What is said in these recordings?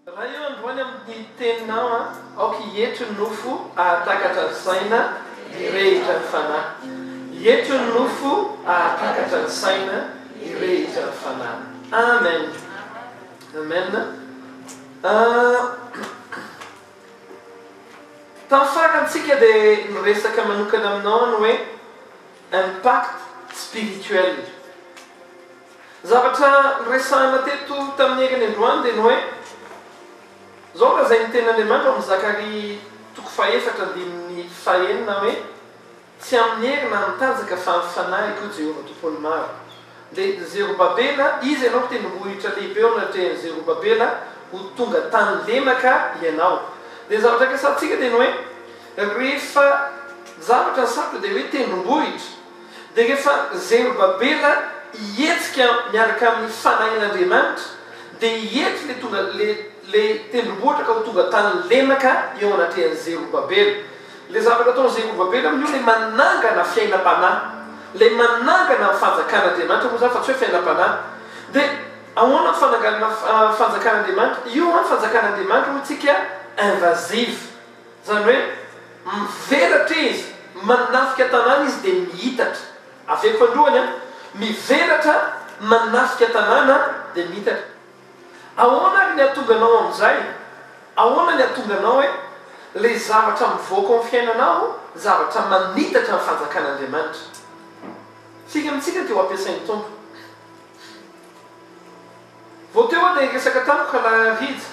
Raha eo androany amin'ny teninao an, aoka hietry ny nofo ahatakatra ny saina, hirehitra ny fanahy. Hietry ny nofo ahatakatra ny saina, hirehitra ny fanahy. Amen! Amen! Tamin'ny farantsika dia niresaka manokana aminao aho ny hoe. Impact spirituel. Ny zavatra niresahana teto tamin'ny herin'ny androany dia ny hoe, izao lazain'ny Tenin'Andriamanitra ao amin'ny Zakaria toko fahefatra andininy fahenina hoe, Tsy amin'ny hery na amin'ny tanjaka fa amin'ny Fanahiko, Jehovah Tompon'ny Maro. Dia Zerobabela, iza ianao mpitendrombohitra lehibe eo anatrehan'i Zerobabela, ho tonga tany lemaka ianao. Dia ny zavatra kasaintsika dia ny hoe, rehefa zavatra ny sarotra dia hoe tendrombohitra, dia rehefa Zerobabela hihetsika miaraka amin'ny fanahin'Andriamanitra, dia hiety ilay tonga, ilay, ilay tendrombohitra ka ho tonga tany lemaka eo anatrehan'i Zerobabela. Ilay zavatra ataon'i Jehovah be namana io ilay manangana fiainam-panahy, ilay manangana ny Fanjakan'Andriamanitra moa izany fa tsy hoe fiainam-panahy. Dia ahoana ny fananganana Fanjakan'Andriamanitra? Io ny Fanjakan'Andriamanitra, hoy isika, invasive, izany hoe mivelatra izy, manafika tanàna izy dia miitatra. Aveko androany an! Mivelatra, manafika tanàna dia miitatra. Ahoana ary ny hatonga anao amin'izay? Ahoana ny hatonga anao eh? Ilay zavatra mivoaka ao amin'ny fiainanao zavatra manitatra ny fanjakan'Andriamanitra. Isika amintsika dia ho ampiasain'ny Tompo. Vao teo aho dia niresaka tamiko ka narary hija.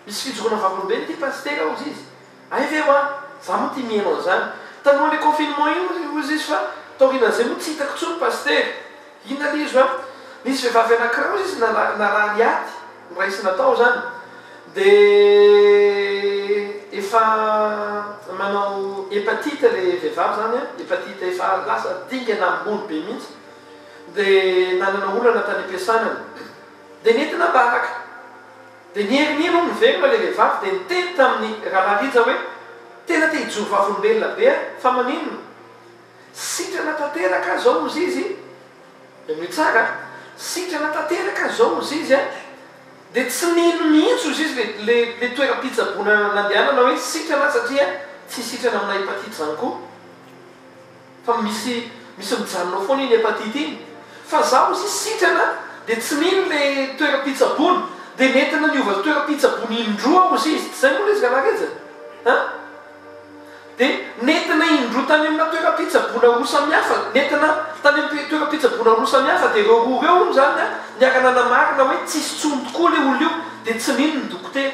Misy fijoroana vavolombelona ity Pasitera hozy izy. Hay ve hoa? Za moa tia mihaino an'zany. Talohan'io confinement io ry hozy izy fa taorianan'zay moa tsy hitako tsony pasitera. Inona ry izy hoa? Nisy vehivavy anankiray hozy izy narary ady noraisina tao zany de efa manao hepatite le vehivavy zany an, hepatite efa lasa dingana ambony be mihitsy de nanana olana tany am-piasana de nentina am-baraka. Dia ny Heriniry hono velona ilay vehivavy dia niteny tamin'i Ramarija hoe, Tena te hijoro vavolombelona be aho, fa maninona? Sitrana tanteraka aho izao hozy izy, henoy tsara a, sitrana tanteraka aho izao hozy izy a, dia tsy nino mihitsy hozy izy ilay toeram-pitsaboana nandehanana hoe sitrana aho satria tsy sitrana amina hepatite izany koa. Fa misy misy mijanona ao foana iny hepatite iny. Fa za hozy izy sitrana dia tsy mino le toeram-pitsaboana dia nentina niova toeram-pitsaboana indroa hozy izy, tsy zay moa le izy rangahy Rija a? Dia nentina indroa tany amina toeram-pitsaboana roa samihafa, nentina tany am toeram-pitsaboana roa samihafa dia reo roa reo hono zany a niara-nanamarina hoe tsisy tsony tokoa le olona io dia tsy mino ny dokotera.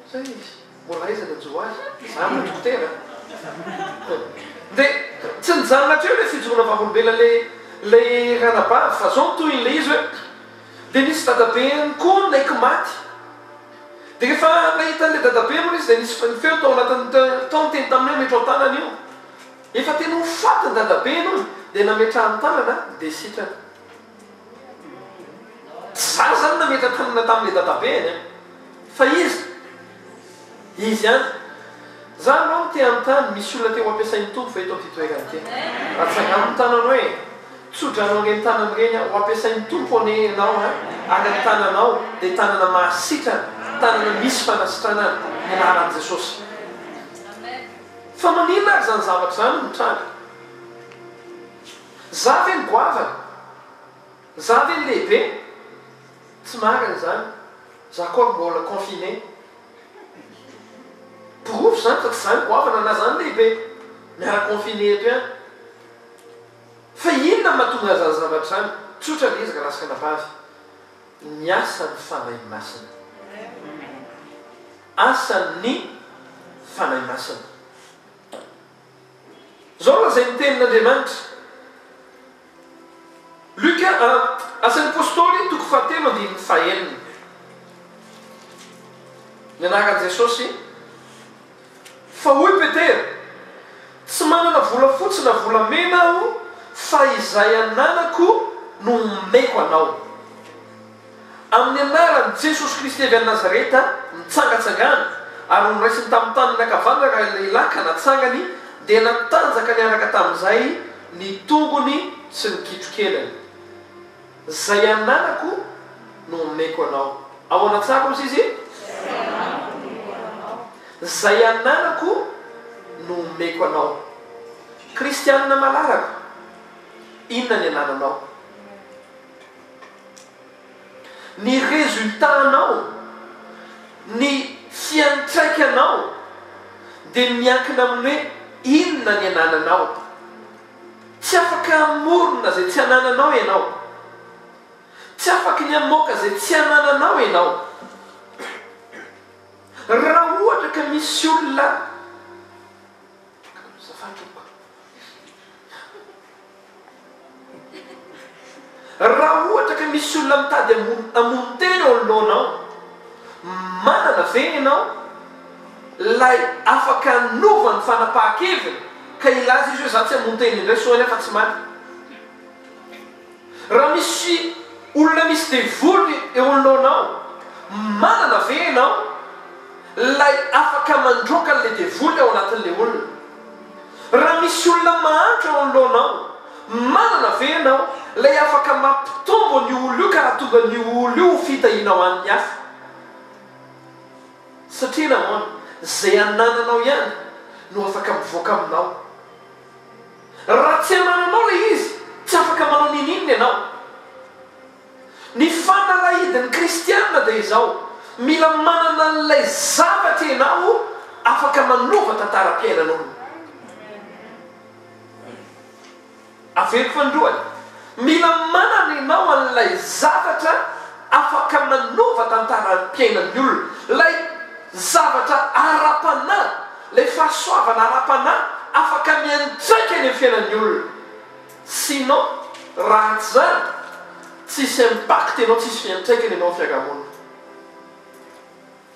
Izay izy, mbola aiza ilay Joahy? Izaho no dokotera a! Dia tsy nijanona hatreo ilay fijoroana vavolombelona ilay ranabavy fa izao no tohiny ilay izy hoe, Dia nisy dadabeny koa naiky maty. Dia rehefa nahita an'ilay dadabe moa ilay izy dia nisy ny feo tao anatin'ny tao niteny taminy hoe, Ametro an-tanana io. Efa tena ho faty ny dadabeny hono dia nametrahany tanana dia sitrana. Tsy za zany nametra tanana tamle dadabeany an! Fa iza? Izy ihany! Za aloha no te hanontany, misy olona te ho ampiasain'ny Tompo ve eto amin'ity toerana ity? Atsangano ny tananao hoe, Tso-drano an'ireny tanana ireny aho, ho ampiasain'ny Tompo anie ianao an! Ary ny tananao dia tanana mahasitrana, tanana misy fanasitranana ny anaran'i Jesosy. Fa maninona ary izany zavatra izany no mitranga? Za ve ny goavana? Za ve ny lehibe? Tsy marina izany, za koa mbola confiné. Porofo izany fa tsy za ny goavana na za ny lehibe, miara confiné eto ihany. Fa inona no mahatonga an'izany zavatra izany? Tsotra ny ezaka lasy-kanavavy, ny asan'ny Fanahy Masina. Asan'ny Fanahy Masina. Zao raha izay ny tenin'Andriamanitra. Luka a, Asan'ny Apostoly, toko fahatelo andininy fahenina. Ny anaran'i Jesosy, Fa hoy Petera, Tsy manana volafotsy na volamena aho, fa izay ananako no omeko anao. Amin'ny anaran'i Jesosy Kristy avy any Nazareta, mitsangatsangana, ary noraisiny tamin'ny tanany ankavanana ilay lehilahy ka natsangany, dia natanjaka niaraka tamin'izay ny tongony sy ny kitro-kenany. Izay ananako no omeko anao. Ao anatsako misy izy? Izay ananako no omeko anao. Kristianina malarako, inona ny anananao? Ny résultat-nao, ny fiantraikanao dia miankina amin'ny hoe inona ny anananao. Tsy afaka hamorona izay tsy anananao ianao. Tsy afaky ny hamoaka izay tsy anananao ianao. Raha ohatra ka misy olona. Raha ohatra ka misy olona mitady hamono tena eo anoloanao, manana ve ianao ilay afaka hanova ny fanapahan-keviny ka hilaza izy hoe izaho tsy hamono tena indray soa anie afa-tsy maty? Raha misy olona misy devoly eo anoloanao, manana ve ianao ilay afaka mandroaka an'ilay devoly ao anatin'ilay olona? Raha misy olona mahantra eo anoloanao, manana ve ianao ilay afaka mampitombo an'io olona io ka raha tonga an'io olona io ho fitahiana ho an'ny hafa? Satria nahoana? Izay anananao ihany no afaka mivoaka aminao. Raha tsy hanao anao ilay izy, tsy afaka manao ninininona ianao. Ny fanalahidin'ny kristiana dia izao, mila manana an'ilay zavatra ianao afaka manova tantaram-piainan'olona. Averiko fa ny lohany. Mila manana ianao an'ilay zavatra afaka manova tantaran'ny mpiainan'ny olona, ilay zavatra ara-panahy, ilay fahasoavana ara-panahy afaka miantraika any amin'ny fiainan'ny olona. Sinon, raha tsy izany, tsisy impact ianao, tsisy fiantraikany ianao amin'ny fiarahamonina.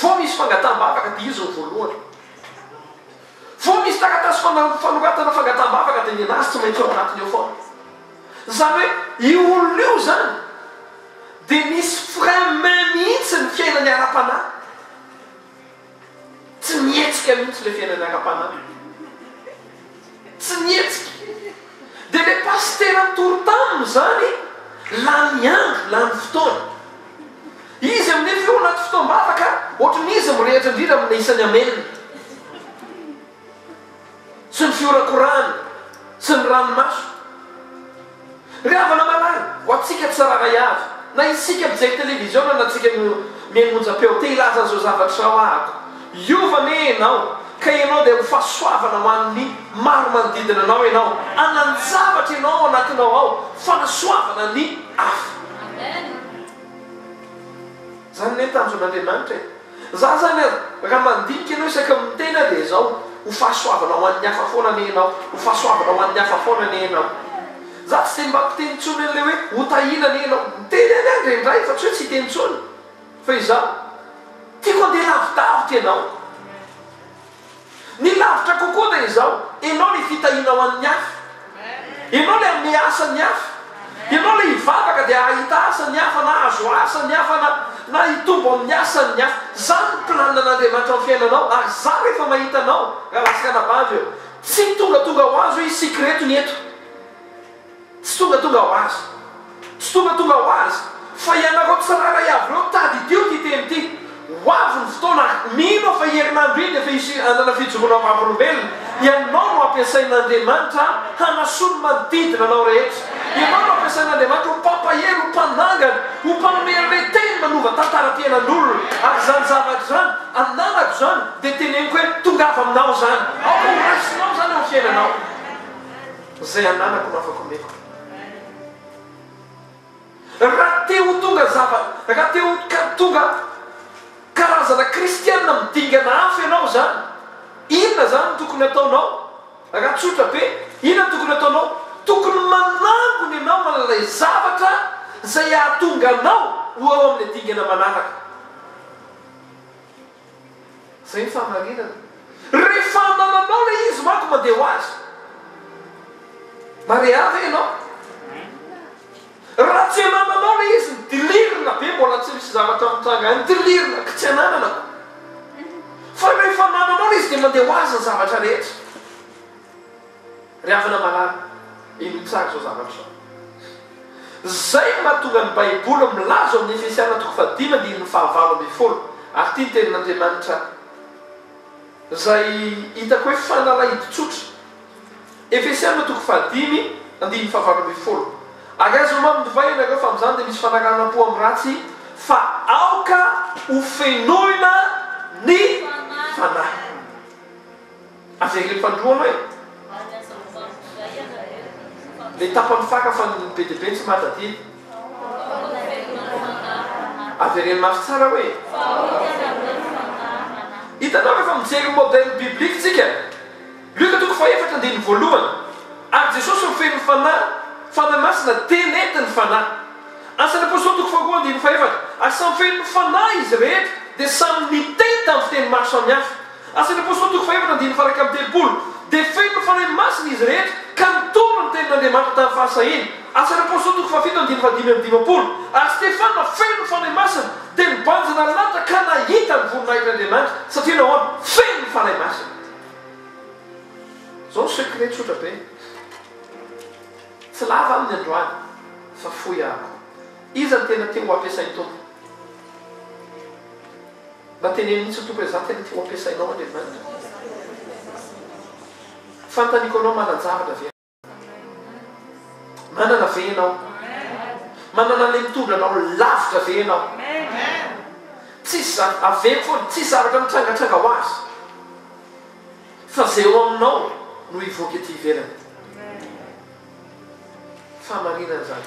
Vao misy fangataham-bavaka dia izy no voalohany. Vao misy taratasy fana- fanoratana fangataham-bavaka dia ny an'azy tsy maintsy ao anatiny ao foana. Izany hoe io olona io izany dia misy frein main mihitsy ny fiainany ara-panahy. Tsy mihetsika mihitsy ilay fiainana ara-panahy. Tsy mihetsika. Dia ilay pasitera nitory taminy izany, lany andro, lany fotoana. Izy aminefy eo anaty fotoam-bavaka, ohatran'ny izy mirehitra indrindra amina isan'ny amen. sy ny fihorakorahana sy ny ranomaso. Ry havana malala, ho antsika tsirairay avy, na isika mijery televiziona na tsika mihaino onjam-peo, te hilaza an'izao zavatra izao ahako, Hiova anie ianao, ka ianao dia ho fahasoavana ho an'ny maro manodidina anao, ianao hanan-javatra ianao ao anatinao ao, fanasoavana ny hafa. Izany anie tanjon'Andriamanitra e! Za zany aza raha mandinika anao isaky ny miteny aho dia izao, ho fahasoavana ho an'ny hafa foana anie ianao, ho fahasoavana ho an'ny hafa foana anie ianao. Za tsy dia mba mpiteny intsony an'ilay hoe ho tahiana anie ianao. Miteny ihany aho indraindray fa tsy hoe tsy hiteny intsony. Fa izaho, tiako handeha lavidavitra ianao. Ny lavitra kokoa dia izao, ianao ilay fitahiana ho an'ny hafa. Ianao ilay hanome asa ny hafa. Ianao ilay hivavaka dia hahita asa ny hafa na hahazo asa ny hafa na na hitombo amin'ny asan'ny hafa. Izany ny planina an'Andriamanitra amin'ny fiainanao ary izaho rehefa mahita anao, Ralahasy Ranabavy ô, tsy tongatonga ho azy hoe hisy sikretony eto. Tsy tongatonga ho azy. Tsy tongatonga ho azy. Fa ianareo tsirairay avy ireo tadidio ity teny ity. Ho avy ny fotoana, mino aho fa herinandro iny dia efa hisy hanana fijoroana ho vavolombelona. Ianao no ampiasain'Andriamanitra hanasoa ny manodidina anao rehetra. Ianao no ampiasain'Andriamanitra ho mpampahery, ho mpanangana, ho mpanome an'ilay Teny manova tantaram-piainan'olona. Ary izany zavatra izany, ananako izany, dia teneniko hoe, Tongava aminao izany. Aoka ho raisinao izany ao amin'ny fiainanao. Izay ananako no afaka omeko. Raha te ho tonga zava, raha te ho ka tonga karazana kristiana midingana hafa ianao izany, inona izany no tokony hataonao? Raha tsotra be, inona no tokony hataonao? Tokony manangona ianao an'ilay zavatra izay hahatonga anao ho ao amin'ilay dingana manaraka. Zay ny fahamarinana. Rehefa hanana anao ilay izy manko mandeha ho azy. Marea ve ianao? Raha tsy hanana anao ilay izy nidilirina be mbola tsy misy zavatra mitranga any dilirina ka tsy hananana. Fa rehefa hanana anao ilay izy dia mandeha ho azy ny zavatra rehetra. Ry havana malala, inoy tsara izao zavatra izao. Izay no mahatonga ny Baiboly milaza ao amin'ny Efesiana toko fahadimy andininy fahavalo ambin'ny folo, ary ity ny tenin'Andriamanitra izay hitako hoe fanalahidy tsotra. Efesiana toko fahadimy andininy fahavalo ambin'ny folo, Ary aza ho mamy divay ianareo, fa amin'izany dia misy fanaranam-po amin'ny ratsy, fa aoka ho fenoina ny Fanahy. Aza alefa androano e! Any aza mibango indray ianareo fa. Le tapany faka fa ny be dia be tsy mada aty. Vahoaka avereno mafy fangarahana. Avereno mafy tsara hoe. Vahoaka avereno mafy fangarahana. Hitanao rehefa mijery ny modèle biblique tsika, Luc toko fahefatra andininy voalohany, ary Jesosy no feno ny Fanahy, Fanahy Masina, Teny nentin' ny Fanahy. Asan' ny Apostoly toko faharoa andininy fahefatra, ary samy feno ny Fanahy izy rehetra dia samy niteny tamin'ny fiteny maro samihafa. Asan'ny Apôstôly toko fahefatra andininy faha iraika amby telopolo, dia feno Fanahy Masina izy rehetra ka nitondra ny tenin'Andriamanitra tamin'ny fahasahiany. Asan'ny Apôstôly toko fahafito andininy faha dimy amby dimampolo, Ary Stefana feno Fanahy Masina dia nibanjina ny lanitra ka nahita ny voninahitr'Andriamanitra, satria nahoana? Feno Fanahy Masina izy. Izao no secret tsotra be, tsy lava aho ny androany fa fohy aho koa. Iza no tena te ho ampiasain'ny Tompo? Mba teneno mihitsy tompoko hoe za tena tiako ampiasainao an Evanina. Fantaniko anao manan-javatra ve anao? Manana ve ianao? Manana an'ilay mitondra anao lavitra ve ianao? Tsisy izany, avelo foana, tsisy zavatra mitrangatranga ho azy fa zay eo aminao no hivoaka ety ivelany. Fahamarinana izany.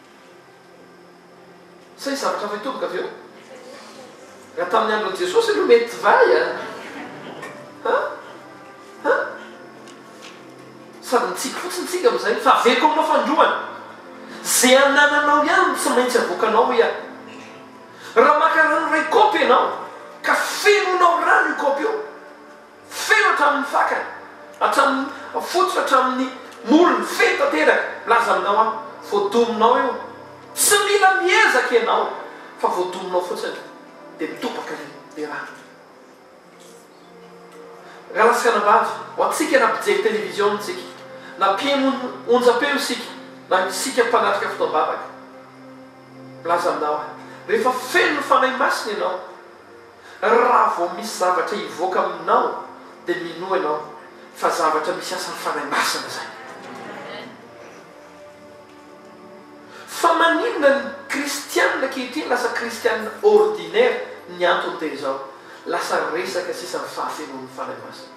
Sa hisy zavatra hafa hitoboka avy eo? Raha tamin'ny andron'i Jesosy aloha mety divay a! An? An? Sady mitsiky fotsiny tsika amin'izay, fa aveko aminao fandroana. Ze anananao ihany no tsy maintsy avoakanao hoy aho. Raha maka rano iray kaopy ianao, ka fenoinao rano io kaopy io, Feno hatramin' ny fakany, hatramin' ny fotony, hatramin' ny molony, feno tanteraka. Milaza aminao aho, voadominao eo. Tsy mila miezaka ianao, fa voadominao fotsiny, dia mitobaka le le rano. Ralasanabavy, ho antsika na mpijery televiziona isika, na mpiheno onjampeo isika, na isika mpanatrika fotoam-bavaka, milaza aminao aho, rehefa feno ny Fanahy Masina ianao, Raha vao misy zavatra hivoaka aminao dia minoa ianao fa zavatra misy asan'ny Fanahy Masina izay. Fa maninona ny kristianina ankehitriny lasa kristianina ordinaire? Ny antony dia izao, lasa resaka sisa ny fahafenoan'ny Fanahy Masina.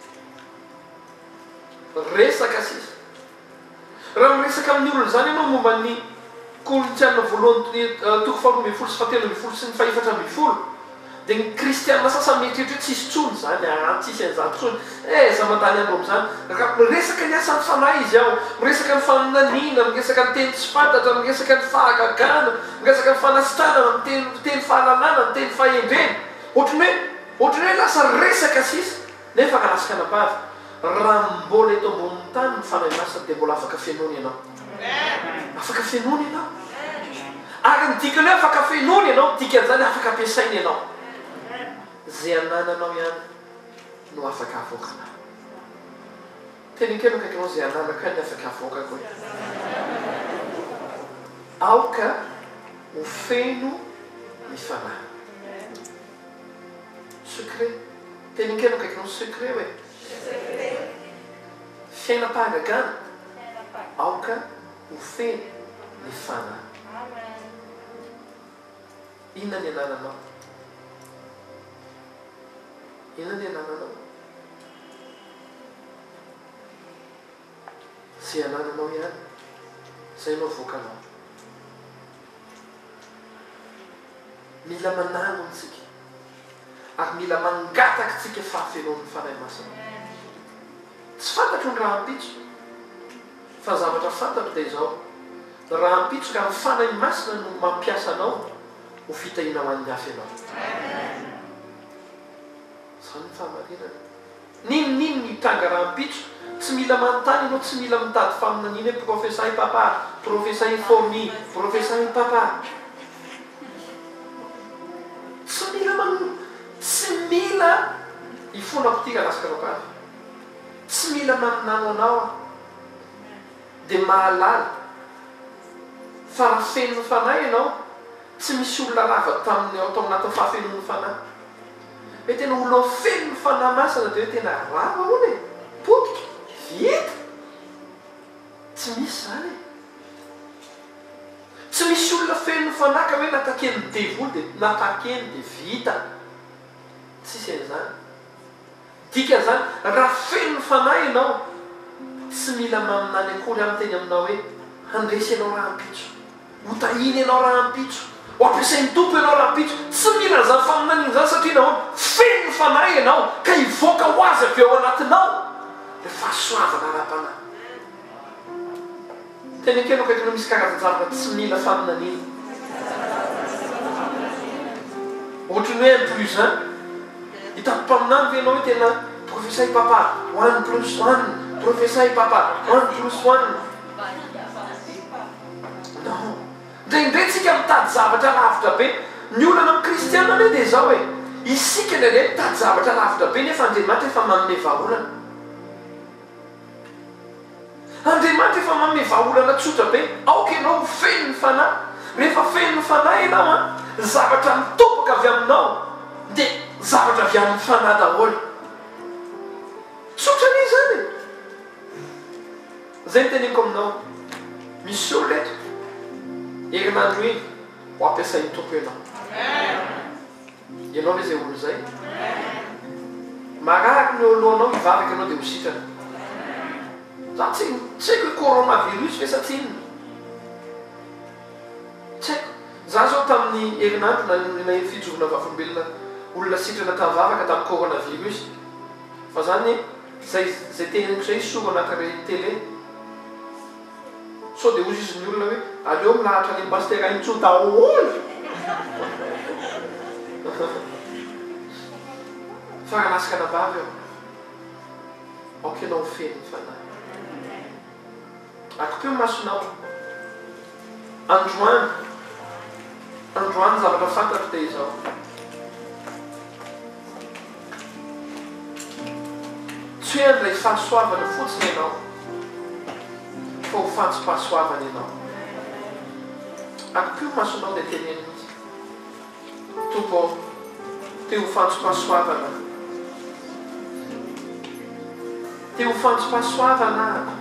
Resaka sisa. Raha miresaka amin'ny olona izany ianao momba ny Korintiana voalohany toko faharoa ambin'ny folo sy fahatelo ambin'ny folo sy ny fahefatra ambin'ny folo dia ny kristiana sasany mieritreritra hoe tsy hisy intsony izany aa, tsy hisy an'izany intsony ee, aza mandany andro amin'izany, raha miresaka ny asan'ny fanahy izy ao, miresaka ny faminaniana, miresaka ny teny tsy fantatra, miresaka ny fahagagana, miresaka ny fanasitranana, miteny fahalalana, miteny fahendrena, ohatran'ny hoe, ohatran'ny hoe lasa resaka sisa. Nefa raha azy kanabavy, raha mbola eto ambonin'ny tany ny Fanahy Masina dia mbola afaka fenoina ianao. Afaka fenoina ianao. Ary ny dikan'ny hoe afaka fenoina ianao, ny dikan'izany afaka ampiasaina ianao. Izay anananao ihany no afaka avoakanao. Teny akaiky ny akaikinao, izay ananako ihany no afaka avoakako e. Aoka ho feno ny Fanahy. Secret. Teny an-keriny akaiky ny hoe secret hoe. Secret. Fiainam-pahagagana. Fiainam-pahagagana. Aoka ho feno ny fanahy. Amen. Inona ny anananao? Inona ny anananao? Ze anananao ihany zay no avoakanao. Mila manangona tsika ary mila mangataka tsika fahafenoan'ny Fanahy Masina. Tsy fantatro ny rahampitso fa ny zavatra fantatro dia izao, ny rahampitso ka ny Fanahy Masina no mampiasa anao ho fitahiana ho an'ny hafa ianao. Zany ny fahamarinana. Ninoninony ny tranga rahampitso, tsy mila manontany ianao, tsy mila mitady faminaniana hoe profesa i Papa, profesa i Fourni, profesa i Papa. Tsy mila manonona, tsy mila hifona aho ity raha lasa kalabaratra, tsy mila naminany ho anao aho, dia mahalala fa raha feno ny Fanahy ianao, tsy misy olona rava taminy ao tao anatin'ny fahafenoan'ny Fanahy. Hoe tena olona ho feno ny Fanahy Masina dia hoe tena rava hono e! Potika! Vita! Tsy misy izany e! Tsy misy olona feno ny Fanahy ka hoe nataken'ny devoly dia natakeny dia vita! Tsisy an'izany! Dikan'izany, raha feno ny Fanahy ianao, tsy mila maminany akory aho miteny aminao hoe, Handresy ianao rahampitso. Hotahiny ianao rahampitso. Ho ampiasain'ny Tompo ianao rahampitso. Tsy mila an'izany faminaniana izany satria nahoana? Feno ny Fanahy ianao ka hivoaka ho Azy avy ao anatinao ilay fahasoavana ara-panahy. Teny akelo akaiky no misy karazan-javatra tsy mila faminaniana. Ohatry ny hoe un plus un. Hitan'ny mpaminany ve ianao hoe tena profesay papa, one plus one, profesay papa, one plus one? Non. Indraindray isika mitady zavatra lavitra be. Ny olana amin'ny kristiana anie dia izao e, isika indraindray mitady zavatra lavitra be nefa Andriamanitra efa manome vahaolana. Andriamanitra efa manome vahaolana tsotra be, aoka ianao ho feno ny Fanahy. Rehefa feno ny Fanahy ianao an, ny zavatra mitobaka avy aminao dia zavatra avy amin'ny Fanahy daholo. Tsotra anie izany e! Izay no teneniko aminao, misy olona eto, herinandro iny ho ampiasain'ny Tompo ianao. Ianao ve izay olo izay? Marary ny eo alohanao hivavaka ianao dia ho sitrana. Za tsy tsy haiko hoe corona virus ve sa tsinona? Tsy haiko. Za zao tamin'ny herinandro naheno fijoroana vavolombelona olona sitrana tamin'ny vavaka tamin'ny corona virus. Fa za anie zay zay te henoko zay hisoro anakare tele. Sao dia ho ziziny olona hoe aleo milahatra any Pasitera Intsony daholo. Fa raha nasy anabavy aho, aoka ianao ho feno ny Fanahy. Akopeo ny masonao. Androany, androany ny zavatra fantatro dia izao. Tsy hoe handray fahasoavana fotsiny ianao, fa ho fantsom-pahasoavana ianao. Akipio ny masonao dia teneno mihitsy, Tompo ô, te ho fantsom-pahasoavana aho. Te ho fantsom-pahasoavana aho.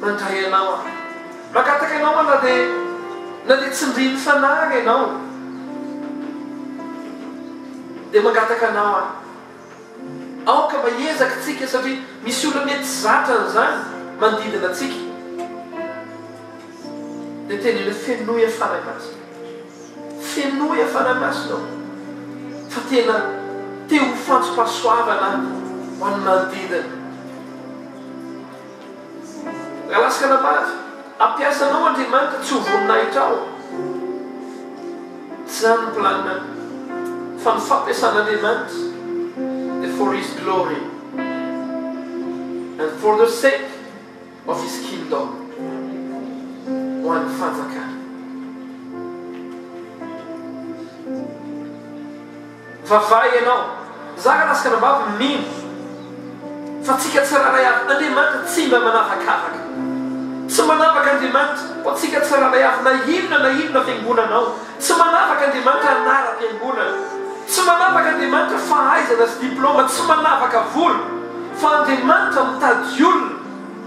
Mandray anao aho. Mangataka anao aho na dia na dia tsindrin'ny fanahy ary ianao dia mangataka anao aho. Aoka mba hiezaka tsika satria misy olona mety tsy zatra an'izany manodidina antsika. Dia teneno fenoy aho Fanahy Masina. Fenoy aho Fanahy Masina o. Fa tena te ho fantsom-pahasoavana aho ho an'ny manodidina. Lalaska na mafy, hampiasa anao Andriamanitra tsy ho voninahitra ao. Tsy izany ny planina fa ny fampiasan'Andriamanitra dia for his glory and for the sake of his kingdom, ho an'ny fanjakany. Fa vay ianao. Za ka lasy kanambavy mino fa tsika tsirairay avy Andriamanitra tsy mba manavakavaka. Tsy manavaka Andriamanitra ho antsika tsirairay avy na inona na inona fiangonana ao. Tsy manavaka Andriamanitra anaram-piangonana. Tsy manavaka Andriamanitra fahaizana sy diploma. Tsy manavaka vola. Fa Andriamanitra mitady olona.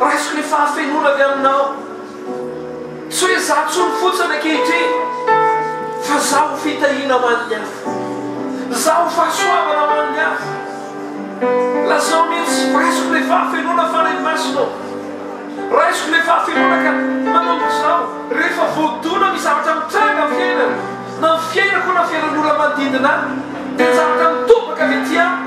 Raiso ny fahafenoana avy aminao. Tsy hoe izaho intsony fotsiny ankehitriny, fa izaho ho fitahiana ho an'ny hafa. Izaho ho fahasoavana ho an'ny hafa. Lazao mihitsy, Raisiko ilay fahafenoana, Fanahy Masina ô. Raisiko ilay fahafenoana ka manomboka izao, rehefa voadona amin'ny zavatra mitranga amin'ny fiainana, na amin'ny fiainako na fiainan'ny olona manodidina ahy, dia ny zavatra mitobaka avy aty amiko,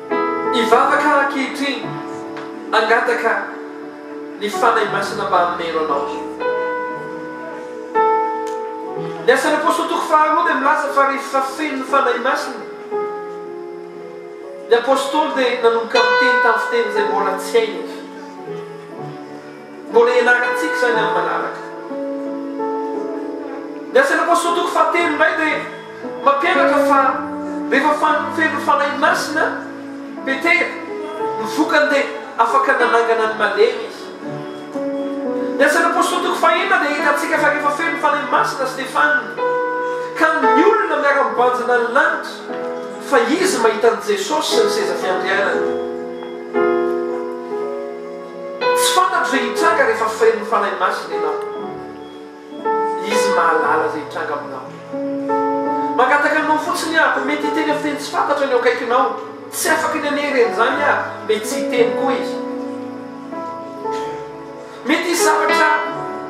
Hivavaka aho ankehitriny, hangataka ny Fanahy Masina mba hameno anao. Ny Asan'ny Apostoly toko faharoa dia milaza fa rehefa feno ny Fanahy Masina, ny Apostoly dia nanomboka miteny tamin'ny fiteny izay mbola tsy hainy. Mbola hianarana antsika izany amin'ny manaraka. Ny Asan'ny Apostoly toko fahatelo indray dia mampianatra fa rehefa feno ny Fanahy Masina Petera, ny vokany dia afaka nanangana ny malemy izy. Ny Asan'ny Apostoly toko fahenina dia ahitantsika fa rehefa feno ny Fanahy Masina Stefana, ka ny olona miara-mibanjina ny lanitra fa izy mahita an'i Jesosy sy ny seza fiandrianany. Tsy fantatro izay hitranga rehefa feno Fanahy Masina ianao. Izy mahalala izay hitranga aminao. Mangataka anao fotsiny aho, mety hiteny amin'ny teny tsy fantatro ny eo akaikinao, tsy afaka ny hanery an'izany aho, mety tsy hiteny koa izy. Mety hisy zavatra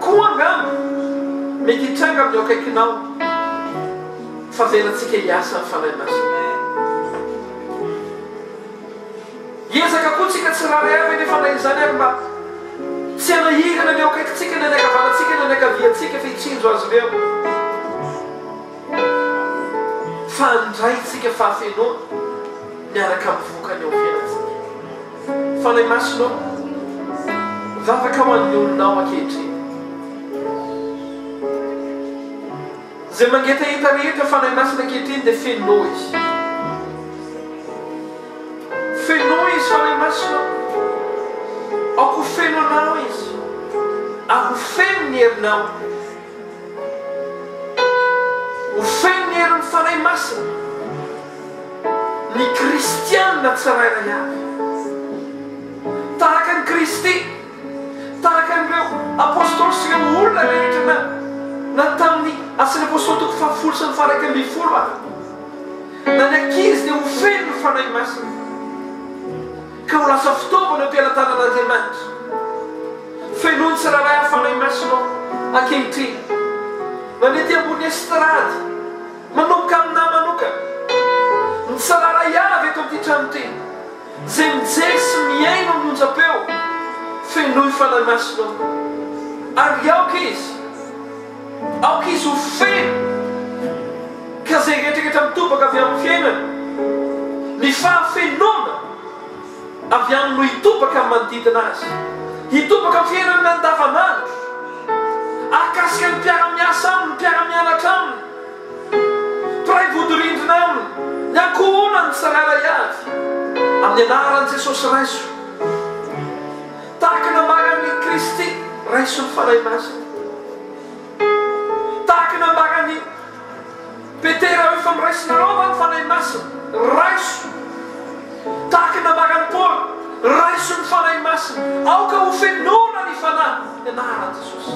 koa angamba mety hitranga amin'ny eo akaikinao fa avelantsika hiasa ny Fanahy Masina. Hiezaka koa tsika tsirairay avy anefa na izany ary mba tsy hanahirana ny eo akaikintsika na ny ankavanantsika na ny ankaviantsika fa hitsinjo azy ireo fa handraintsika fahafenoana miaraka amin'ny vokany eo fiainantsika. Fanahy Masina ô, vavaka ho an'ny olonao ankehitriny. Izay mangetaheta rehetra Fanahy Masina ankehitriny dia fenoy Izy. Fenoy Izy, Fanahy Masina ô. Aoka ho feno anao Izy, ary ho feno ny herinao. Ho feno ny herin'ny Fanahy Masina ny kristiana tsirairay avy. Tahaka an'i Kristy. Tahaka an'ireo Apostoly sy ireo olona rehetra na na tamin'ny Asan'ny Apostoly toko fahafolo sy ny faharaika ambin'ny folo ary na ny ankizy dia ho feno ny Fanahy Masina ka ho lasa fitaovana eo am-pelatanan'Andriamanitra. Fenoin'ny tsirairay ny Fanahy Masina ao ankehitriny. Mandeha aty ambony estrady, manomboka aminà manokana, ny tsirairay avy eto amin'ity trano ity. Zay mijery sy mihaino amin'ny onjam-peo, fenoy Fanahy Masina ao, ary aoka izy, aoka izy ho feno, ka zay rehetra rehetra mitobaka avy amin'ny fiainana, ny fahafenoana avy aminy no hitobaka amin'ny manodidina azy, hitobaka amin'ny fiainany andavanandro, ahakasika ny mpiara-miasa aminy, ny mpiara-mianatra aminy, Mpiray vodirindrina aminy ny ankohonany tsirairay avy. Amin'ny anaran'i Jesosy raiso. Tahaka ny nambaran'i Kristy, raiso ny Fanahy Masina. Tahaka ny nambaran'i Petera hoe efa miraisinareo va ny Fanahy Masina? Raiso. Tahaka ny nambaran'i Paoly, raiso ny Fanahy Masina. Aoka hofenoina ny Fanahy. Ny anaran'i Jesosy.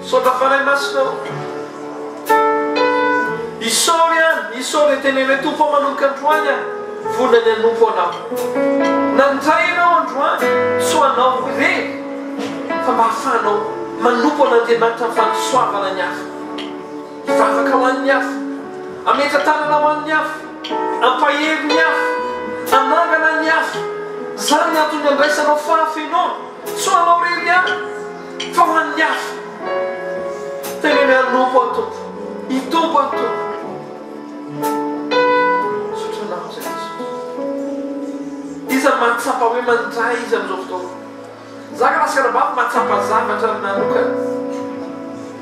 Misaotra Fanahy Masina ô. Isaory an, isaory an, tenen'ilay Tompo aho manomboka androany an, vonona ny hanompo Anao. Nandray Anao androany, soa Anao re, fa mba ahafahanao manompo an'Andriamanitra ny fanosoavana ny afo. Hivavaka ho an'ny afo, hametra tanana ho an'ny afo, hampahery ny afo, hanangana ny afo. Izany ny antony andraisanao fahafenoana. Soa Anao re ry an. Fa ho an'ny hafa, teneno anompo an Tompo, hitompo an Tompo. Misaotra anao Jesosy. Iza mahatsapa hoe mandray izy amin'izao fotoana? Za ka lasaka anabavy mahatsapa zavatra manokana.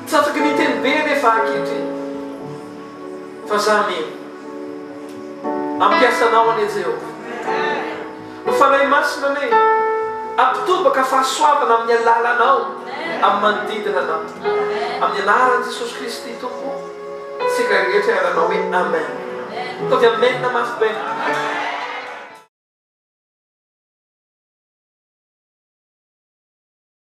Tsy afaky miteny be anefa ankehitriny. Fa za mino. Ampiasanao anie Jehovah. O Fanahy Masina anie, ampitobaka fahasoavana amin'ny alalanao amin'ny manodidina anao. Amin'ny anaran'i Jesosy Kristy Tompo, isika rehetra ary hanao hoe Amen. Ataovy Amen mafy be.